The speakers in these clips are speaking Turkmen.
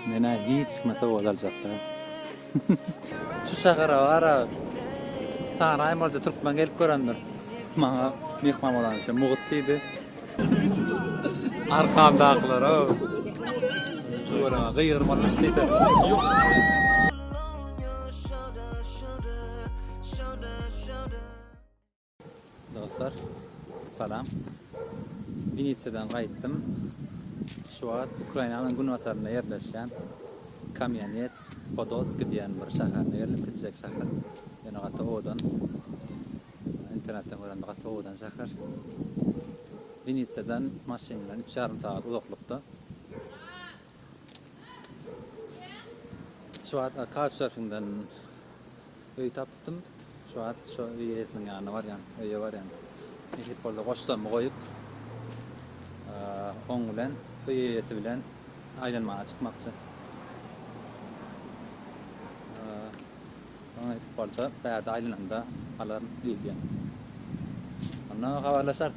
Menä hiç kime sowgat aljak däl. Şu şähere bara sany aýmalyja türkmen gelip görendir. Maňa myhman bolan üçin mugt diýdi. Arkamdakylar ow. Şu göreme gygyrmaly iş diýsene. Dostlar, salam. Wenesiýadan gaýtdym. Şu wagt Ukrainanyň günbatarynda ýerleşýän Kamýanets Podolski diýen bir şäherine geldim, kiçijek şäher. Ýöne gaty owadan. Internetden görende gaty owadan şäher. Wenesiýadan maşyn bilen üç ýarym sagat uzaklykda. Şu wagt Couchsurfingden öý tapypdym. Şu wagt şo öý eýesiniň ýanyna barýan, öýe barýan. Nesip boldy goşlarymy goýup, oň bilen, öý eýesi bilen aýlanmaga çykmakçy. Oňa nesip bolsa bärde aýlananda alaryn diýdi. Onda habarlaşarys.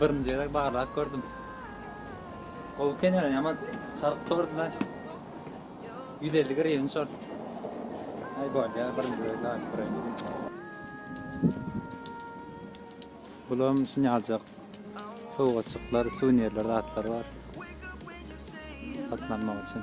Birinji gezek barlap gördüm. Gowy eken ýöne ýaman çalyp durdy-da. Ýüz elli griwen şol. Aý bolýar birinji gezek baryp göräýmeli. Bulam şuny aljak sowgatjyklar, suwnirler zatlar bar. Satyn almak üçin.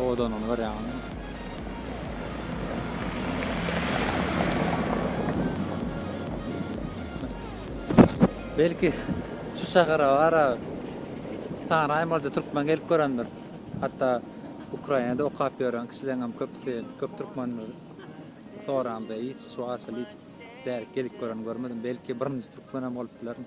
Owadanlygyny görýäňizmi? Belki şu şähere ara sany aýmalyja türkmen gelip görendir. Hatda Ukrainada okap ýören kişileriňem köpüsi köp türkmendir. Soraňda hiç şu arçaly hiç bärik gelip gören görmedim. Belki birinji türkmenem bolup bilerin.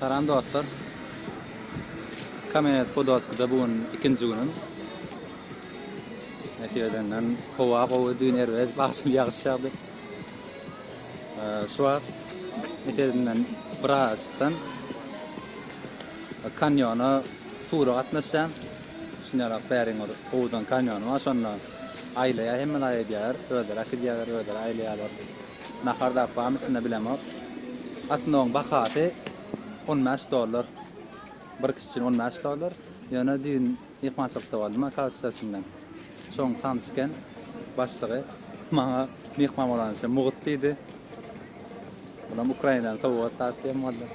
Salam dostlar. Kamenes Podolskida bu gün ikinji günüm. Netijeden howa gowy, düýn erbet, bagşym ýagyş ýagdy. Şu wagt netijeden bir araçykdan kanyona Tura gatnaşýan. Şunyarap bäriň bir howuzdan kanýony bar şonda aýlaýar hemme zat edýärler. Özleri äkidýärler, özleri aýlaýarlar. Nahar zat barmy içinde bilemok. Atnoň bahasy on bäş dollar. Bir kişi üçin on bäş dollar. Ýöne düýn myhmançylykda boldum a kowçular içinden. Şoň tanyş eken başlygy. Maňa myhman bolanyça mugt diýdi. Olam Ukrainanyň sowgat zat diýen boldy.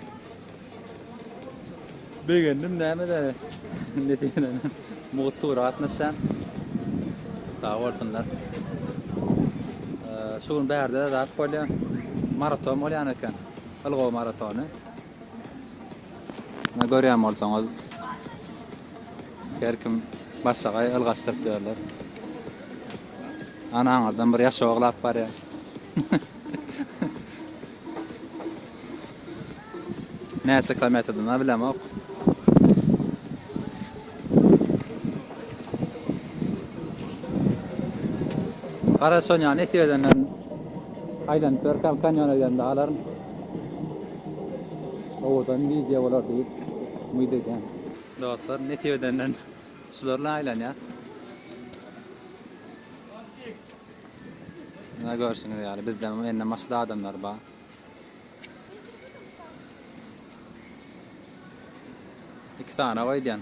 Begendim näme de ne diýenem. Mugt tura gatnaşýan. Sag bolsunlar. Şu gün bärde zat bolýar. Maraton bolýan eken. Ilgow maratony. Ne görýän bolsaňyz her kim başga ylgaşdyryp ýörler. Anaňyzdan bir ýaş oglap barýar. Näçe kilometrden-a bilemok. Gara Sonýany etip edenden aýlanyp ýörkäm kanýona gidemde alaryn. Owadan wideo bolar diýip umyt edýän. Dostlar netip edenden şular bilen aýlanýas. Mundan görşüňiz ýaly bizde indi maşda adamlar bar. Iki sany goýdýan.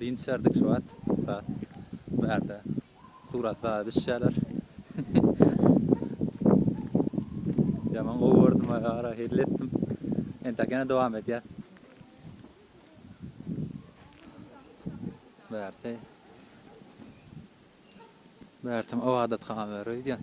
Dynç içerdik şu wagt biraz. Bu ýerde surat zada düşýärler. Ýaman gowy gördüm aýa gara hezil etdim. Entek ýene dowam edýäs. Bärsi. Bärsim ybadathana ýöre öýdýän.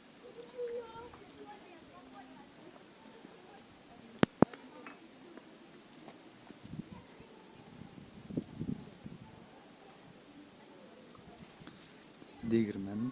degirmen